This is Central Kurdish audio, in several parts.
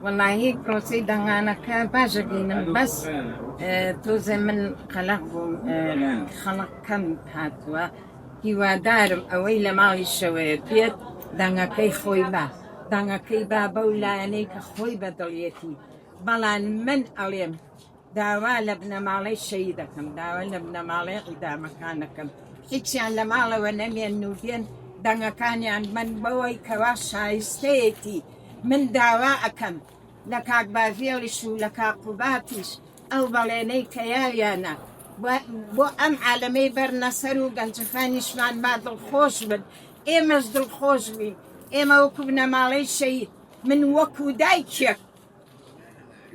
وەڵاهی پرۆسەی دەنگانەکە باش ئەبینم بەس تۆزێ من قەلەق بووم خەڵک کەم هاتووە هیوادارم ئەوەی لە ماڵی شەوەیە بێت دەنگەکەی خۆی با دەنگەکەی با بەو لایەنەی کە خۆی بەدڵیەتی بەڵام من ئەڵێم داوا لە بنەماڵەی شەهید دەکەم، داوا لە بنەماڵەی ئیدامەکان دەکەم هیچیان لە ماڵەوە نەمێنن و بێن دەنگەکانیان، من بەوەی کەوا شایستەیەتی من داوا ئەکەم لە کاک باڤێڵیش و لە کاک قوباتیش ئەو بەڵێنەی کە یاویانە بۆ ئەم عالەمەی بەرنە سەر و گەنجەکانیشمان با دڵخۆش بن، ئێمەش دڵخۆش بین، ئێمە وەکو بنەماڵەی شەهید من وەکو دایکێک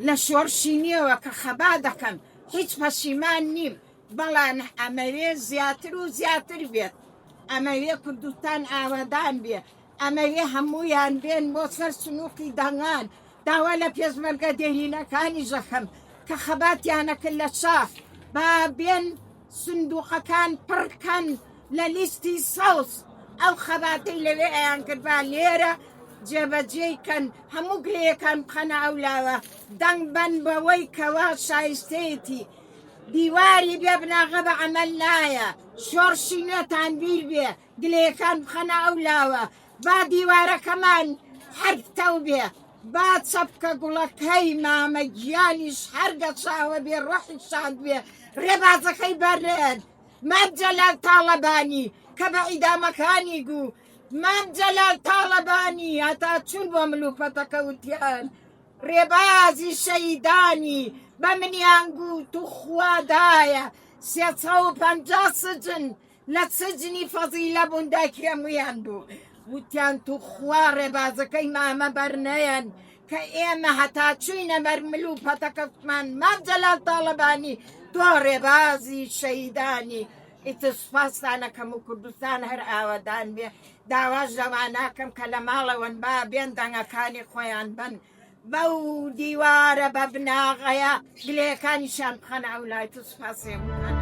لە شۆڕشی نوێوە کە خەبات دەکەم هیچ پەشیمان نیم بەڵام ئەمەوێ زیاتر و زیاتر بێت ئەمەوێ کوردستان ئاوەدان بێ ئەمەوێ هەموویان بێن بۆ سەر سنووقی دەنگان داوا لە پێشمەرگە دێرینەکانیش دەکەم کە خەباتیانەکرد لە شاخ با بێن سندوقەکان پڕ کەن لە لیستی سەوز ئەو خەباتەی لەوێ ئەیان کرد با لێرە جێبەجێی کەن هەموو گرێیەکان بخەنە ئەو لاوە دەنگ بەن بەوەی کەوا شایستەیەتی دیواری بێ بناغە بە عمل نایە شۆڕشی نوێتان بیر بێ گلەیەکان بخەنە ئەو لاوە با دیوارەکەمان هەر پتەو بێ با چەپکە گوڵەکەی مامە گیانیش هەر گەچاوە بێ ڕۆحی شاد بێ ڕێبازەکەی بەرێت مام جەلال تاڵەبانی کە بە عیدامەکانی گوو مام جەلال تاڵەبانی هەتا چون بۆ ملوپەتەکە وتیان ڕێبازی شەیدانی بە منیان گوو تو خوادایە سێ سەد و پەنجا سجن لە سجنی فەزیلە بوون دایکی هەموویان بوو وتیان توخوا ڕێبازەکەی مامە بەرنەیەن کە ئێمە هەتا چوینە بەر مل و پەتەکەتمان مام جەلال تاڵەبانی تۆ ڕێبازی شەهیدانی ئیتر سوپاستانە کەم و کوردستان هەر ئاوەدان بێ داواش لەواناکەم کە لە ماڵەوەن با بێن دەنگەکانی خۆیان بەن بەو دیوارە بە بناغەیە گلەیەکانیشیان بخەنە ئەو لای تو سوپاسێن بکەنە.